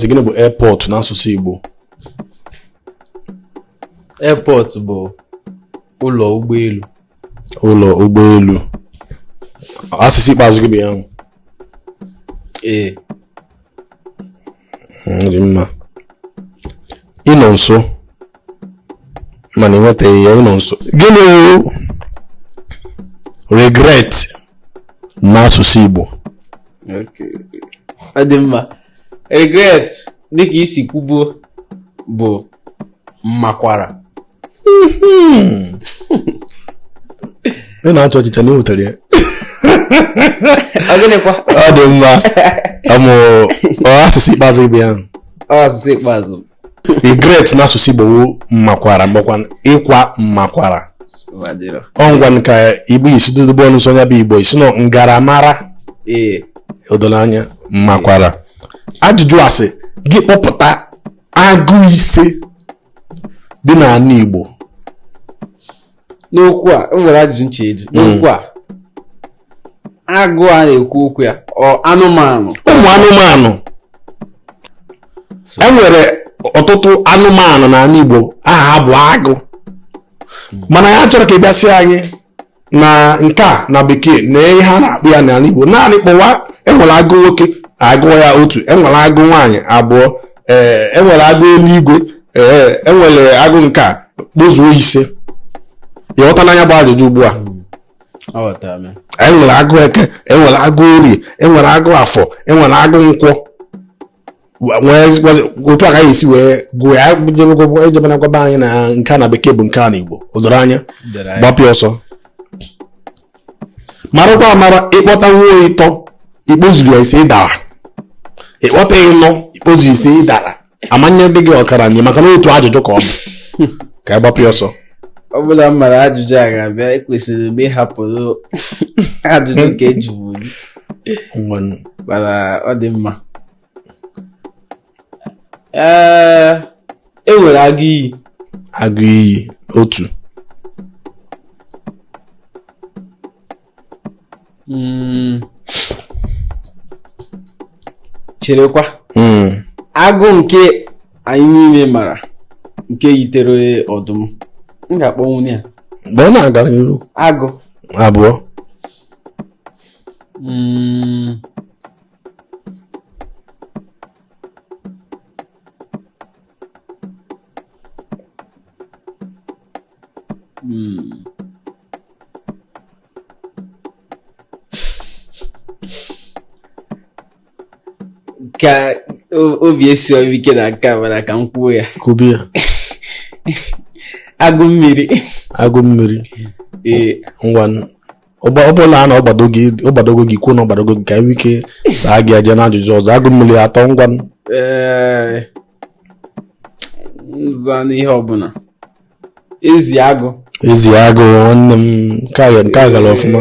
Ezi gịnị bụ airport n'asụsụ Igbo? Airport bụ ụlọ ụgbọelu. Ụlọ ụgbọelu. Asịsa ikpeazụ gị bụ ya ahụ? Ee. Hmm, dị mma. Ị nọ nso mana ị nwetaghị ya ị nọ nso. Gịnị regret n'asụsụ Igbo? Okay. Ọ dị mma. regret dịka ị si kwubuo bụ mmakwara ị na-achị ọchị chee na ị nwetara ya ọ gịnịkwa ọ dị mma mm asịsa ikpeazụ gị bụ ya asịsa ikpeazụ regret n'asụsụ Igbo wu mmakwara ma ọ bụkwanụ ịkwa mmakwara ọngwa ka igbo isi dudugbo ọnụ so onye bụ igbo isi nọ ngaramara o doro anya mmakwara ajụjụ a sị gị kpọpụta agụ ise dị n'ala igbo n'okwu a e nwere ajụjụ nche eji n'okwu a agụ a na-ekwu okwu ya ọ anụmanụ ụmụ anụmanụ e nwere ọtụtụ anụmanụ n'ala Igbo aha ha bụ agụ mana ya chọrọ ka ị gwasị anyị na nke a na bekee na ihe a na-akpọ ya n'ala Igbo naanị kpọwa enwere agụ nwoke a gụọ ya otu enwere agụ nwaanyị abụọ ee enwere agụ eluigwe ee enwere agụ nke a kpọzuo ise ị ghọtana nya bụ ajụjụ ugbu a aghọtara m ya. enwere agụ eke enwere agụ orie enwere agụ afọ enwere agụ nkwọ Wa- nwee gwazi- otu a ka anyị esi wee gụọ ya jebekwa- ejebena gwaba anyị na nke a na bekee bụ nke a na igbo o doro anya Dere anyị. gbapịa ọsọ marakwa amara ị kpọtanwuo ịtọ ị kpọzurọ ya ise ị dara ị kpọta ịnọ ị kpọzurọ ise ị dara a ma-enyedị gị ọkara nye maka na otu ajụjụ ka ọ bụ ka ị gbapịa ọsọ ọ bụ na m mara ajụjụ a ga-abịa ekwesịrị m ịhapụrụ ajụjụ nke ejibu mana ọ dị mma ee e nwere agụ iyi agụ iyi otu mm. cherekwa hmm. agụ nke anyị niile mara nke yitere ọdụm m ga-akpọnwu ya mgbe ọ na-aga n'ihu agụ abụọ mm. Hmm. ka o- obi esirọ m ike na nke a mana ka m kwuo ya kwube ya agụ mmiri agụ mmiri ee ngwa ọ bụrụ na ọ gbadogo gị kwuo na ọ gbadogo gị ka e nwee ike saa gị e jee na ajụjụ ọzọ agụ mmiri atọ ngwa nza n'ihe ọbụla ezi agụ ezi agụ nwanne m nke a gara ọfụma